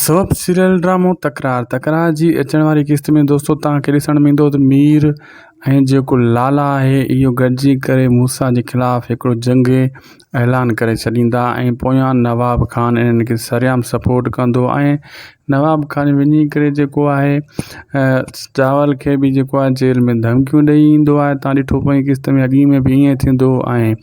سبب سيريل ڊرامو تڪرار تڪرار جي اچڻ واري قسط ۾ دوستو توهان کي ڏسڻ ۾ ايندو ته مير ۽ جيڪو لالا آهي اهو گڏجي ڪري موسيٰ جي خلاف هڪڙو جنگي اعلان ڪري ڇڏيندا ۽ پويان نواب خان انهن کي سريام سپورٽ ڪندو ۽ نواب خان وڃي ڪري جيڪو آهي چاول کي به جيڪو آهي جيل ۾ ڌمڪيون ڏئي ايندو آهي توهان ڏٺو پوئين قسط ۾ اڳي ۾ به ائين ٿيندو ۽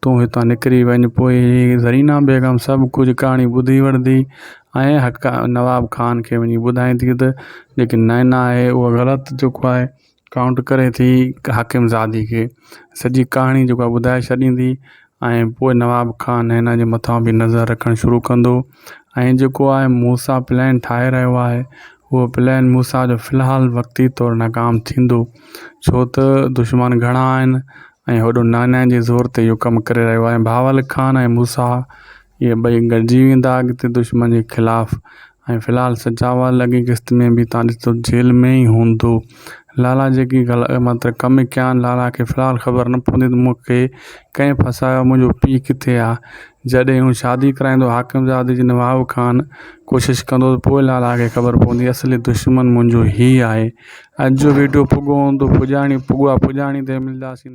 تون هتان نڪري وڃ. پوء هيء زرينه بيگم سڀ ڪجهه ڪهاڻي ٻڌي وٺندي ۽ حق نواب خان کي وڃي ٻڌائيندي ته جيڪي نائنا آهي اها غلط جيڪو آهي ڪائونٽ ڪري ٿي حاڪم زادي کي سڄي ڪهاڻي جيڪو آهي ٻڌائي ڇڏيندي ۽ پوء نواب خان نائنا جي مٿان به نظر رکڻ شروع ڪندو ۽ جيڪو آهي مون سان پلان ٺاهي رهيو آهي اهو پلان مون سان جو في الحال وقتي طور ناڪام ٿيندو ڇو ته دشمن گهڻا آهن ۽ هوڏو نانئن جي زور تي اهو ڪم ڪري رهيو آهي. بهاول خان ۽ موسيٰ اهي ٻئي گڏجي ويندا اڳتي دشمن جي خلاف ۽ في الحال سجاوال اڳين قسط ۾ به تان ڏسو جيل ۾ ئي هوندو. لالا جيڪي گلا مطلب ڪم ڪيان لالا کي في الحال خبر نه پوندي ته مون کي ڪنهن ڦاسايو آهي منهنجو پيء ڪٿي آهي. جڏهن هو شادي ڪرائيندو حاڪم زادي جي نواب خان ڪوشش ڪندو ته پوء لالا کي خبر پوندي اصلي دشمن منهنجو هي آهي. اڄ جو ويڊيو پڳو هوندو پڄاڻي پڳا پڄاڻي تي ملنداسين.